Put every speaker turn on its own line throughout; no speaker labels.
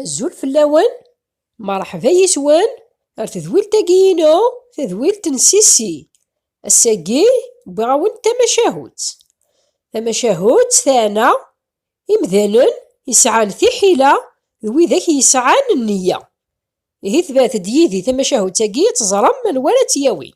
Azul fell-awen, merḥba yes-wen ar tedwilt-agi-inu, tadwilt n Sissi. Ass-agi, wwiɣ-awen-d tamacahut. Tamacahut teɛna imdanen yesɛan tiḥila d widak yesɛan nniya. Ihi tebɛet-d yid-i tamacahut-agi ad teẓrem anwa ara tt-yawin.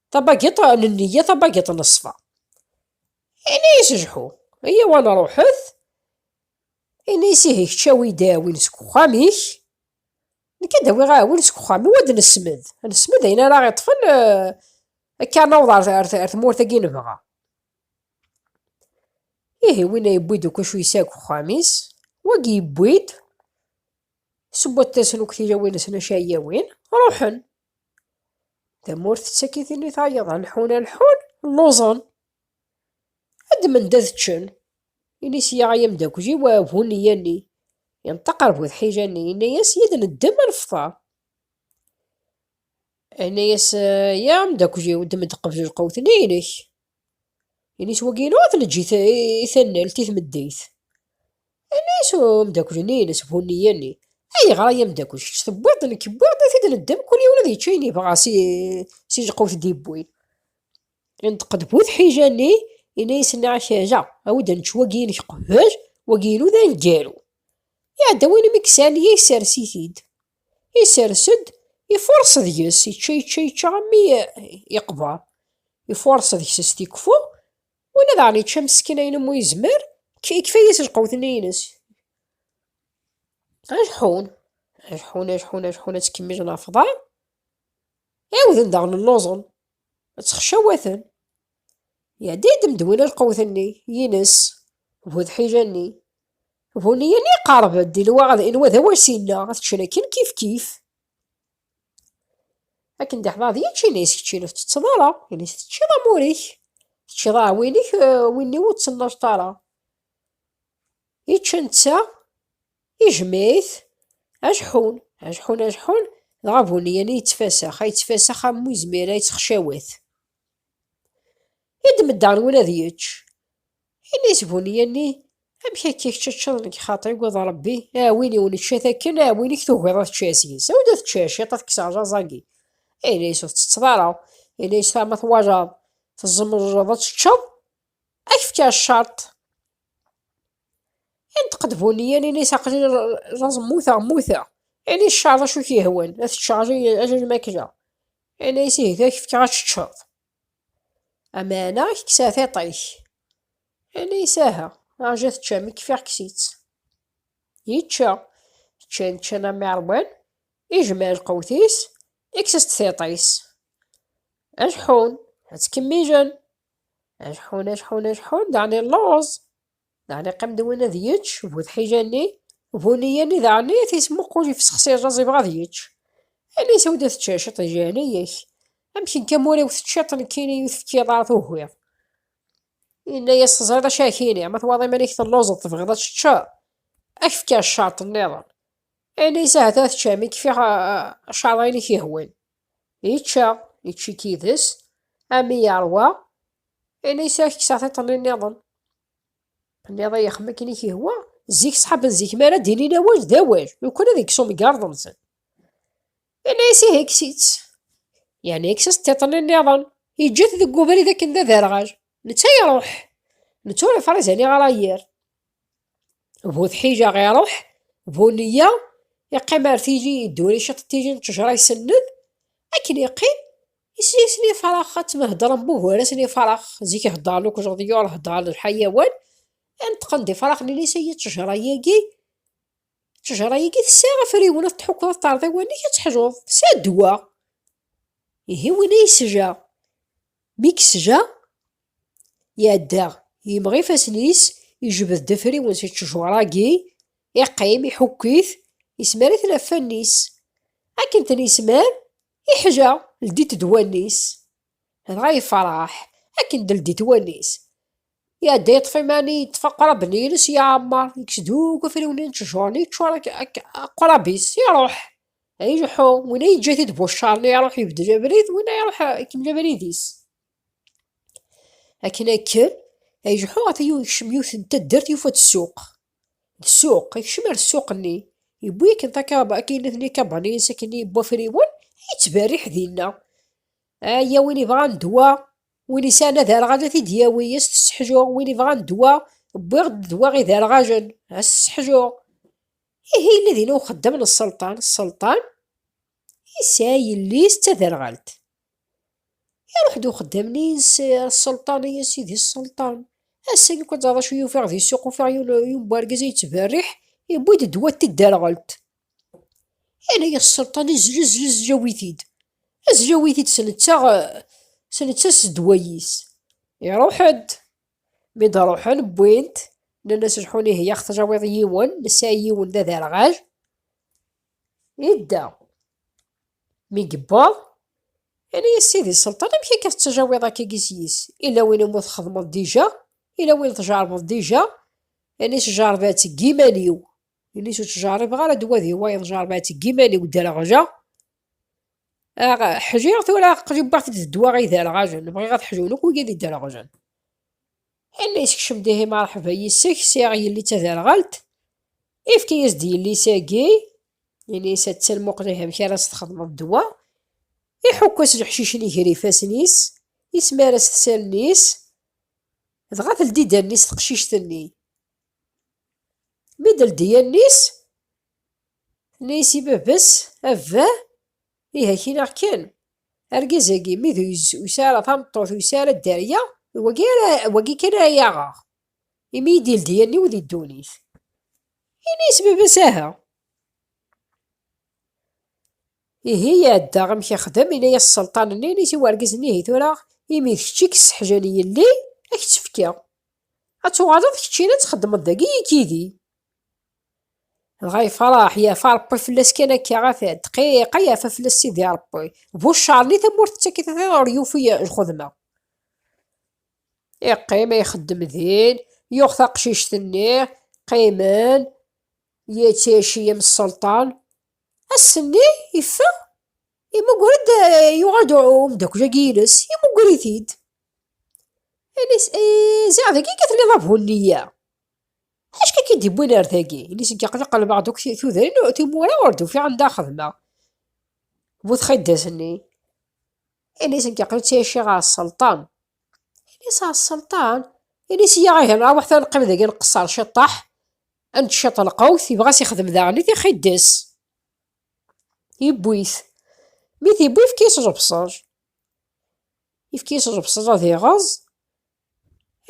Tabagiṭ n nneyya tabagiṭ n ṣṣfa. Ini-as Jḥu, Eyyaw ad nṛuḥet. Ini-as Ihi kečč awi-d aɛwin seg uxxam-ik, nekk ad d-awiɣ aɛwin seg uxxam-iw ad nesmed, ad nesmed ayen ara aɣ-iṭṭfen akka ad naweḍ ar tmurt-agi nebɣa. Ihi winna yewwi-d akk acu yesɛa deg uxxam-is, wagi yewwi-d, sewwaṭ-asen akk tilawin-nsen acu ara awin, ṛuḥen. Tamurt tettakitin i tayeḍ, a lḥun a lḥun, lluẓen. Ad d-mend ad ččen. Ini sya ay amdakkel-iw a bu nniya-nni. Yenṭeq ar bu tḥila-nni, yenna-as yad neddem a nefṭer. Yenna-as ya amdakkel-iw, ddem-d qbel lqawt-nni inek. Ini-as wagi yenɣa-t leǧǧit i tanalt, i tmeddeyt. Ini-as umdakel-nni-ines Bunni-yeni, Ayɣer ay amdakel, kečč tewwiḍ-d, nekk wwiɣ-d, ad t-id-neddem, kul yiwen ad yečč ayen yebɣa si si lqut i d-yewwin. Inṭeq-d bu tḥija-nni, ini-as nniɣ ak aha, awi-d ad nečč wagi-inek qbel, wagi-inu d aneggaru. Iɛdawen-im i yesɛan, ihi ssers-it-id. Isers-d, ifuṛes deg-s, ičča, ičča, ičča armi yeqber. Ifuṛes deg-s s tikkwfa, win ad aɣ-n ičča meskin ayen umi yezmer, yekfa-as lqewt-nni ines. Ajeḥḥun, ajeḥḥun, ajeḥḥun, ajeḥḥun, ad ttkemmijen ɣef uḍar, ɛiwden daɣen lluẓen, ttxeccawaten. Iɛedda-yi-d Medwin alqewt-nni, yines, bu tḥila-nni. Bu nniya-nni iqerreb-d, inwa ad inwa d awas-inna, ad ččen akken kifkif. Akken d-iḥḍer d yičči, inna-yas, kečč inu tettetteḍ ara, ini-as, teččiḍ amur-ik, teččiḍ aɛwin-ik, win-iw ur tt-nnajt ara. Ičča netta, ijmeɛ-it, ajeḥḥun, ajeḥḥun, ajeḥḥun, dɣa bu nniya-nni yettfasax, a yettfasax am wi zmira yettexcawat. I d-meddarwen ad yečč. Yenna isbunni-yanni, Amek akka kečč ad teččeḍ nekk xaṭi ugaḍ Rebbi, aɛwin iw nečča-t akken, aɛwin-ik tugiḍ ad tečča seg-s. Awi-d ad tečča ciṭ ad kkseɣ aẓaẓ-agi. Yenna yes ur tettetteḍ ara. Yenna yes ma twalaḍ tzemreḍ ad teččeḍ, ad k-fkeɣ ccerṭ. Inṭeq-d Buniyyan, ini-as, Aql-i laẓ mmuteɣ, mmuteɣ! Ini i cceɛḍ acu i k-yehwan, ad teččeɣ acu n lmakla. Ini-as, Ih, ad ak-fkeɣ ad teččeḍ. Ameɛna ad ak-kkseɣ tiṭ-ik. Ini-as, Aha, rju ad teččeɣ, mi kfiɣ kkes-itt. Yečča. Ččan, ččan am iɛerban, ijmeɛ lqewt-is, ikkes-as-d tiṭ-is. Ad ḥun, ad ttkemmijen. Acḥun, acḥun, acḥun, daɣen illuẓ. Daɣen iqqim-d win ad yečč, bu tḥija-nni, bu nniya-nni daɣen i t-ismuqul ifsexs irreẓ ibɣa ad yečč. Ini sew-d ad teččeḍ ciṭ di leɛnaya-k. Amek akka ma ur iw teččiḍ nekkini i yi-tefkiḍ ara tugiḍ? Yenna-yas teẓriḍ acu ak-ini, ma twalaḍ iman-ik telluẓeḍ tebɣiḍ ad teččeḍ, ad k-fkeɣ ccerṭ nniḍen. Ini-as ahat ad teččem, i k-fkeɣ ccerṭ ayen i k-yehwan. Yečča, yečči-k yid-s, ami yeṛwa, ini-as ad kkseɣ tiṭ-nni nniḍen. Nniḍ i yexm akken i k-ihwa, zik ṣṣḥaben zik mi ara d-inin awal d awal, lukan ad ikkes umgarḍ-nsen. Ini-as ihi kkes-itt. Yerna yekkes-as tiṭ-nni nniḍen, yeǧǧa-t deg ubrid akken d aderɣal. Netta iṛuḥ. Netta ur ifṛiz aniɣer a yir. Bu tḥila iṛuḥ, bu neyya iqqim ar tili yedduri ciṭ n tili n ttejṛa isenned, akken yeqqim isli-isen ifṛex, ad tmheddṛem bu gar-asen ifṛex, zik heddṛen akk leḍyur, heddṛen lḥayawan, ineṭṭqen-d ifṛex nnan is ay ttejṛa-yagi, ttejṛa-yagi tesɛa afriwen ad tḥukkeḍ ad teṛṛeḍ i wanek ad teḥluḍ, tesɛa ddwa, ihi win ay yesja mi yesja. Iɛedda, yemɣ ifassen-is, ijbed-d afriwen si ttejwara-agi, iqqim, iḥukk-it, ismar-iten ɣef wallen-is. Akken ten-ismar, iḥla, ldit-d wallen-is. Dɣa yefreḥ, akken d-ldit wallen-is. Iɛedda yeṭṭef iman, yeṭṭef aqrab-nni-ines, yeɛmer, yekkes-d akk afriwen-nni n ttejwara-nni, yeččur aqrab-is, iruḥ. Ileḥḥu, winna yeǧǧa-t-id bu ccer-nni, iruḥ, ibeddel abrid, winna iruḥ, ikemmel abrid-is. Akken ad kker, ad yejḥu ɣef ayen yekcem yiwet n taddart yufa-d ssuq. D ssuq, yekcem ar ssuq-nni, yewwi akken takaba, akken nutni ikabaniyen s akken yewwi afriwen, yettberriḥ dinna. Aya win yebɣan ddwa, win yesɛan aderɣal ad t-id-yawi, ad s-t-sseḥjuɣ, win yebɣan ddwa, wwiɣ-d ddwa iderɣalen, ad s-sseḥjuɣ. Ihi yella dinna uxeddam n sselṭan, sselṭan yesɛa yelli-s d taderɣalt. Iruḥ-d uxeddam-nni yis sselṭan, ay a sidi sselṭan, ass-agi akk ad teẓreḍ acu yufiɣ di ssuq, ufiɣ yiwen n wergaz ay yettberriḥ, yewwi-d ddwa n tidderɣelt. Yenna-yas sselṭan, ezl, ezl, ezl awi-t-id. Ezl awi-t-id s netta, s netta s ddwa-is. Iruḥ-d. Mi d-ruḥen wwin-t, nnan-as lḥun ihi ax-teǧawiḍ yiwen, nesɛa yiwen d aderɣal. Idda. Mi yewweḍ, ini a sidi Selṭan, amek akka tettajawiḍ akkagi seg-is? Ila win umi txedmeḍ dija, ila win tjerbeḍ dija, ini sjerba-tt deg yiman-iw. Ini-s ur ttjerribeɣ ara ddwa di wayeḍ, jerba-tt deg yiman-iw dderɣjeɣ. Ḥjiɣ tura aql-i wwiɣ-t-id d ddwa iderɣajen, bɣiɣ ad ḥjun akk wigi d iderɣjen. Ella yeskcem-d ihi marḥeba yis-k, sɛiɣ yelli d taderɣalt, ifka-yas-d yelli-s-agi, yelli-s attan muqel ihi amek ara s-txedmeḍ ddwa, iḥukk-as leḥcic-nni ger ifassen-is, ismar-as-t s allen-is, dɣa teldi-d allen-is teqcict-nni. Mi d-teldi allen-is, tenna-yas i baba-s, A baba, Ih, akk-in aɣ kan. Argaz-agi, mi d usi ara tameṭṭut, usi ara dderya, d wagi ara, wagi kan ara yaɣeɣ, imi i d-ildi allen-iw di ddunit. Ini-as baba-s aha. Ihi iɛedda amek ixdem, yenna-as sselṭan-nni, ini-as i wergaz-nni, ihi tura, imi d kečč i yesseḥjan yelli, a k-tt-fkeɣ. Ad tuɣaleḍ keččina ad txeddmeḍ dagi yekk yid-i. Dɣa ifraḥ, yerfa Ṛebbi fell-as kan akka ɣef ddqiq, ay yerfa fell-as Sidi Ṛebbi. Bu cceṛ-nni tamurt tettak-it ɣiɣ ur yufi lxedma. Iqqim a ixeddem din, yuɣ taqcict-nni, qqimen, yettaciyem sselṭan. Ass-nni yeffeɣ, imugger-d, yuɣal-d umeddakel-agi-ines, imugger-it-id. Ini-s, ee, ziɣ dagi i telliḍ a bu nneyya. Acka k-id iwwin ar dagi, ini seg aqli qelbeɣ d tudrin timura ur d-ufiɣ anda a xedmeɣ. Bu txidas-nni, ini seg aqli ttɛiceɣ ɣer sselṭan. Ini s ɣer sselṭan, ini s yaɣ ihi nraweḥ tura neqqim dagi nqeṣṣer ciṭṭaḥ, ad nečč ciṭ lqewt, yebɣa s ixdem daɣen i tixidas. Yewwi-t. Mi t-yewwi yefka-as ẓebseṛ. Yefka-as ẓebseṛ ad iɣeẓ.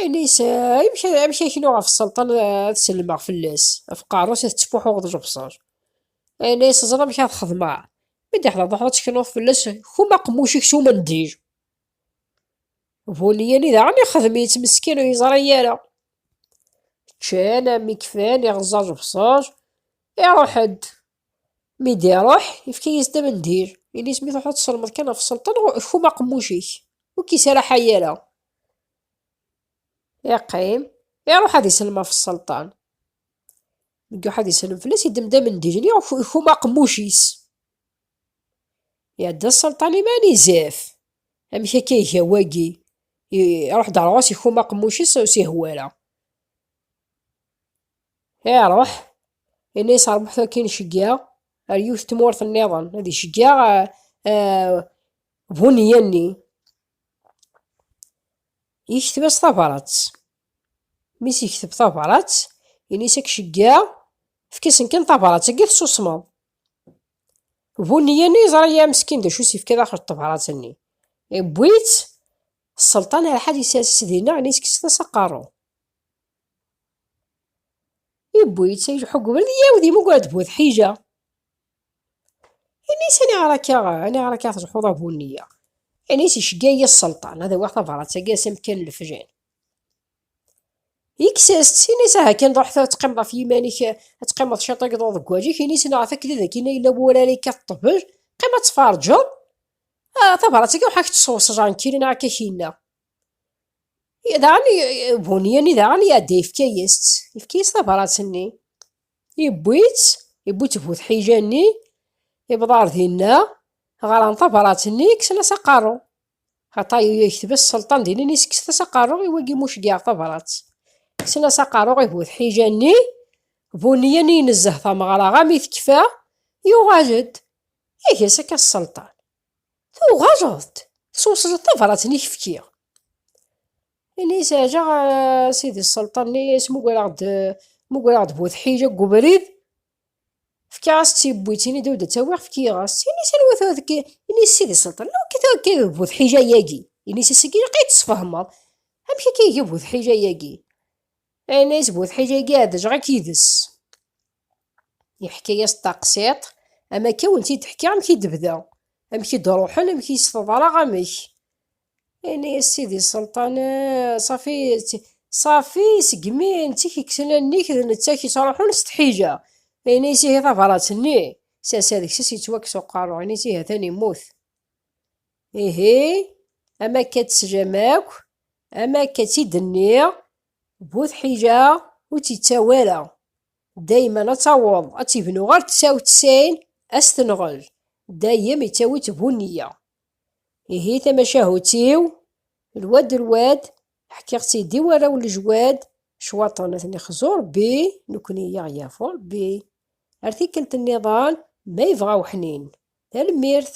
Anis, amek, amek aknu ɣef sselṭan ad sellmeɣ fell-as, ɣef qerru-s ad tettfuḥuɣeḍ lebṣel? Anis, ẓer amek ad xedmeɣ, mi d-iḥḍer d uḥḍur tteknuḍ fell-as, kum aqemmuc-ik s umendil. Bu niyani daɣen ixdem-itt, meskin ur yeẓri ara. Ččan, mi kfan, iɣeẓẓa lebṣel, iṛuḥ-d. Mi d-iruḥ, yefka-yas-d amendil. Ini-as mi truḥeḍ ad tselmeḍ kan ɣef sselṭan, kfum aqemmuc-ik. Ur k-yesraḥay ara. Yeqqim, iruḥ ad iselm ɣef sselṭan. Mi iruḥ ad iselm fell-as, yeddem-d amendil-nni, kfum aqemmuc-is. Iɛedda sselṭan iman, izef. Amek akka iga wagi? Iruḥ-d ɣer ɣur-s, kfum aqemmuc-is, ur s-ihwa ara. Iṛuḥ, yenna yesrebbḥet akin ceggiɛ ar yiwet tmurt nniḍen, ad iceggiɛ buneyya-nni. Yekteb-as tabrat. Mi s-yekteb tabrat, yenna-as ad k-ceggiɛ, efk-asen kan tabrat, agi tessusmeḍ. Buneyya-nni yeẓra ya meskin d acu s-yefka daxel tebrat-nni. Iwwi-tt, sselṭan Alḥad yessers-itt dinna, yenna-as kkset-as aqerru. Yewwi-tt ay lḥug ubrid i yiɛawed yemmuger d bu tḥila. Ini-as aniɣer akka, aniɣer akka tleḥḥuḍ a bu-nniya. Ini-as icegga-iyi sselṭan ad awiɣ tabṛat-agi ass amekkan n lefjan. Yekkes-as-tt, ini-as aha kan ṛuḥ ad teqqimeḍ ɣef yiman-ik, ad teqqimeḍ cwiṭ ad k-ḍuḍ deg wajik, ini-as neɣ ɣef wakken ad ak-inin yella wurar yekkat ṭṭbel, qqim ad tferǧeḍ, ah tabṛat-agi ṛuḥ ad k-tt-sweṣ jankil neɣ akka k-inna. Daɣen Bunyan daɣen iɛedda yefka-yas-tt, yefka-yas tabrat-nni. Yewwi-tt, yewwi-tt bu tḥija-nni, yewweḍ ɣer dinna, ɣran tabrat-nni, kksen-as aqerru. Xaṭa yekteb-as sselṭan dinna, ini-as kkset-as aqerru i wagi ma ur ceggɛeɣ tabrat. Kksen-as aqerru i bu tḥija-nni, Bunyan inezzeh tameɣra armi tekfa, yuɣal-d, iga-as akka sselṭan. Tuɣaleḍ-d teswesleḍ tabrat-nni i k-fkiɣ. Ini seɛjaɣ eh, sidi sselṭan-nni, smugareɣ-d eh, mugareɣ-d bu tḥila deg ubrid, fkiɣ-as tt-yewwi-tt, ini-d ur d-ttawiɣ, fkiɣ-as, ini s anwa tura tekki, ini s sidi sselṭan, anwa akka tura tekki bu tḥila-yagi, ini s asagi ilaq ad yi-d-tesfehmeḍ, amek akka iga bu tḥila-yagi, ini s bu tḥila-yagi ɛedjaɣ-ak yid-s. Yeḥka-yas-d taqsiṭ, am akka i wen-t-id-ḥkiɣ amek i d-bda, amek i d-ruḥen, amek i s-teḍra, amek. Yenna-yas Sidi Selṭan, Ṣafi, Ṣafi, segmi netta k-kksen allen-ik d netta k-ittruḥun s tḥila. Yenna-yas ihi tabrat-nni, s ass-a deg-s as-yettwakkes uqerru, yenna-yas ihi ha-t-an yemmut. Ihi, am akka ad teslam akk, am akka i tt-id-nniɣ, Bu tḥila ur tt-ittawi ara, dayman ad taweḍ ad tibnu ɣer tsaw d tsayn ad s-tenɣel, dayem ittawi-tt bu nniya. Ihi tamacahut-iw, lwad d lwad, ḥkiɣ-tt-id i warraw n lejwad, cwaṭen ad ten-ixzu Rebbi, nekni i aɣ-yafu Rebbi. Ar tikkelt nniḍen, ma yebɣa weḥnin. Tanemmirt!